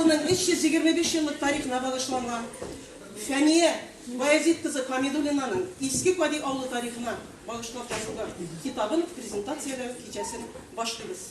Авылының 325 еллык тарихына багышланган Фәния Баязит кызы Хамидуллинаның Иске Кади авылы тарихына багышлап язылган китабын презентацияләү кичәсен башлыйбыз.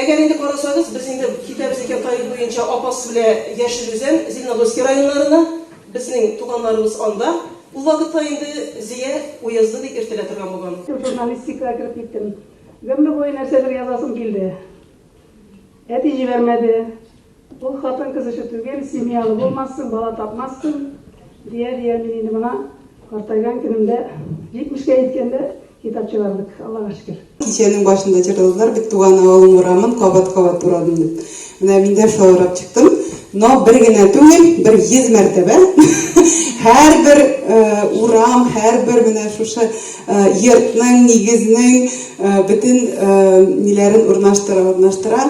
Әгәр инде карасагыз, без инде китәбез икән Таиф буенча Апас белә Яшел Үзән, Зеленогорский районнарына, безнең туганнарыбыз анда. Ул вакытта инде Зия уезды дип йөртелә торган булган. Журналистикага кереп киттем. Гомер буе нәрсәдер язасым килде. Әти җибәрмәде. Ул хатын-кыз эше түгел, семьялы булмассың, бала тапмассың, дия-дия мин инде мына картайган көнемдә, 70-кә җиткәндә китап чыгардык, Аллага шөкер. Кичәнең башында җырладылар бит Туган авылым урамын кабат-кабат урадым дип. Менә мин дә шулай урап чыктым. Но бер генә түгел, бер 100 мәртәбә. Һәрбер урам, һәрбер менә шушы йортның, нигезнең бөтен ниләрен урнаштыра-урнаштыра.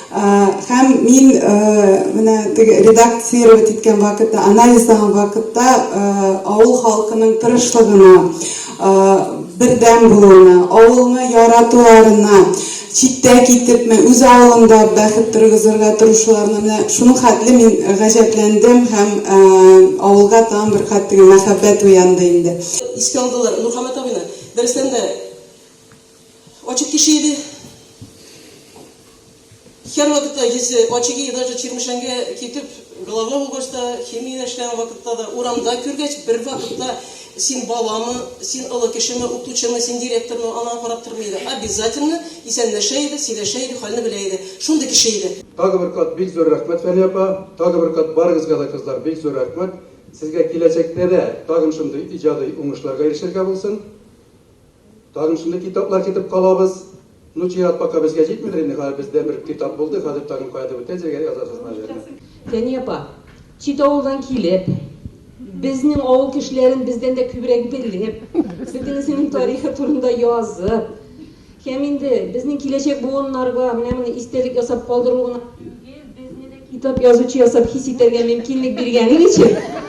Һәм мин менә теге редактировать иткән вакытта, анализлаган вакытта авыл халкының тырышлыгына, бердәм булуына, авылны яратуларына, читтә китепме, үз авылында бәхет торгызырга тырышуларына менә шуның хәтле мин гаҗәпләндем һәм авылга тагын бер кат теге мәхәббәт уянды инде. Искә алдылар Нурхаммат абыйны. Дөрестән дә, Очи кеше иде. Хер вакытта есе, очиги даже чирмешәнгә китеп, глава булгач та, химия эшләгән вакытта да, урамда күргәч, бер вакытта син баламы, син олы кешеме, укытучымы, син директормы, ана карап тормый иде. Обязательно исәнләшә иде, сөйләшә иде, хәлне белә иде. Шундый кеше иде. Тагы бер кат бик зур рәхмәт Фәния апа, тагы бер кат барыгызга да кызлар бик зур рәхмәт, сезгә киләчәктә дә тагын шундый иҗади уңышларга ирешергә булсын. Тагын шундый китаплар көтеп калабыз. Ну чират пока безгә җитмидер инде, хәзер бездә бер китап булды, хәзер тагын каядыр үтәзергә язасызмы җырны? Фәния апа, чит авылдан килеп, безнең авыл кешеләрен бездән дә күбрәк белеп, Сөтен исемен тарихы турында язып, һәм инде безнең киләчәк буыннарга менә моны истәлек ясап калдыру гына Китап язучы ясап хис итәргә мөмкинлек биргәнең өчен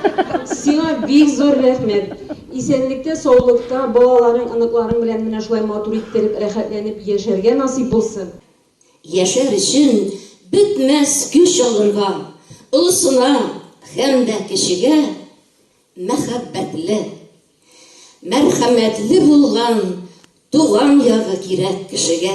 сиңа бик зур рәхмәт. Исәнлектә, саулыкта, балаларың, оныкларың белән менә шулай матур иттереп, рәхәтләнеп яшәргә насыйп булсын. Яшәр өчен бетмәс көч алырга, олысына һәм дә кечегә мәхәббәтле, мәрхәмәтле булган туган ягы кирәк кешегә.